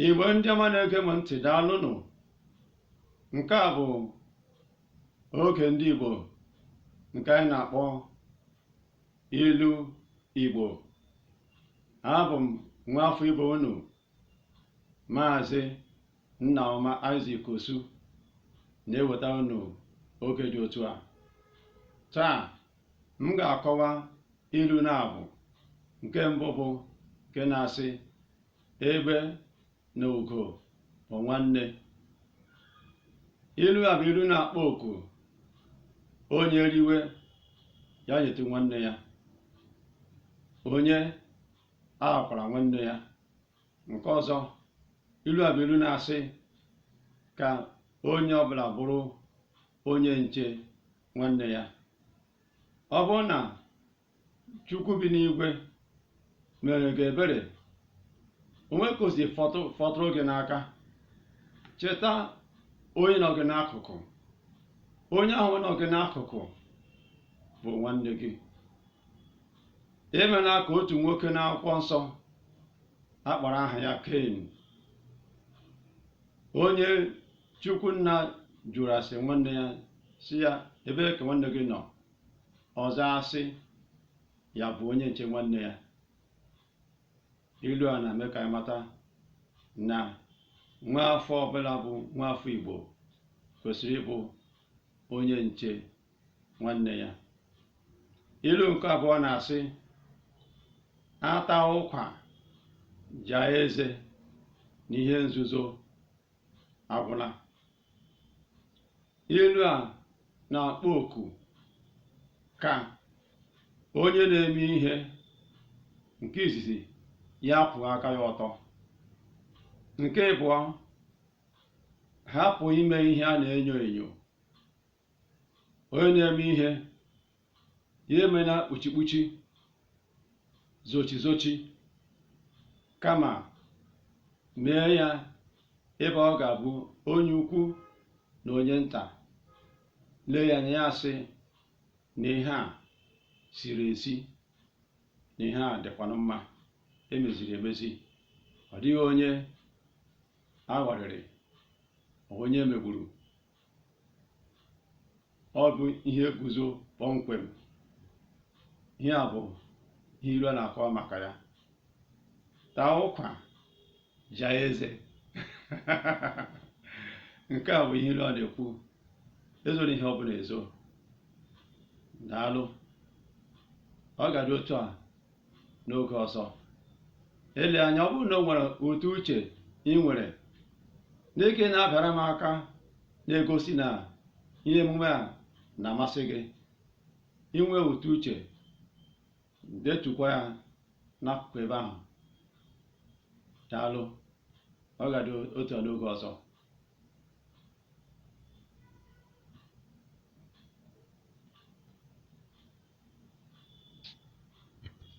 Igbo ndị ọma na-ege m ntị daalụnụ nke a bụ oge ndị Igbo nke anyị na-akpọ ilu Igbo abụ m nwa afọ Igbo unu maazị Nnaọma Isaac Osu na-eweta unu oge dị otu a taa m ga-akọwa Ilu na-abụ nke mbụ bụ nke na-asị egbe na ugo bụ nwanne. Ilu a bụ ilu na-akpọ oku onye riwe ya nyetụ nwanne ya onye aghakwala nwanne ya nke ọzọ ilu a bụ ilu na-asị ka onye ọbụla bụrụ onye nche nwanne ya ọ bụrụ na chukwu bi n'igwe mere gị ebere o nwee ka o si fọtụ fọtụrụ gị n'aka cheta onye nọ gị n'akụkụ onye ahụ nọ gị n'akụkụ bụ nwanne gị emela ka otu nwoke n'akwụkwọ nsọ a kpọrọ aha ya Cain onye Chukwu Nna jụrụ ase nwanne ya sị ya ebee ka nwanne gị nọ ọ zaa sị ya bụ onye nche nwanne ya ilu a na-eme ka anyị mata na nwa afọ ọbụla bụ nwa afọ Igbo kwesịrị ịbụ onye nche nwanne ya ilu nke abụọ na-asị a taa ụkwa jaa eze na ihe nzuzo agwụla ilu a na-akpọ oku ka onye na-eme ihe nke izizi ya kwụọ aka ya ọtọ nke ịbụọ hapụ ime ihe a na-enyo enyo onye na-eme ihe ya emena kpuchikpuchi zochizochi kama mee ya ebe ọ ga-abụ onye ukwu na onye nta lee ya anya ya asị na ihe a ziri ezi na ihe a dịkwanụ mma e meziri emezi ọ dịghị onye a ghọrịrị onye e megburu ọ bụ ihe guzo kpọmkwem ihe a bụ ihe ilu a na-akọwa maka ya taa ụkwa jaa eze nke a bụ ihe ilu a na-ekwu ezoro ihe ọ bụla ezo daalụ ọ ga-adị otu a n'oge ọzọ ele anya ọ bụrụ na o nwere ụtụ uche ị nwere n'ike na-abịara m aka na-egosi na ihe emume a na-amasị gị ị nwere ụtụ uche detukwa ya n'akụkụ ebe ahụ daalụ ọ ga-adị otu a n'oge ọzọ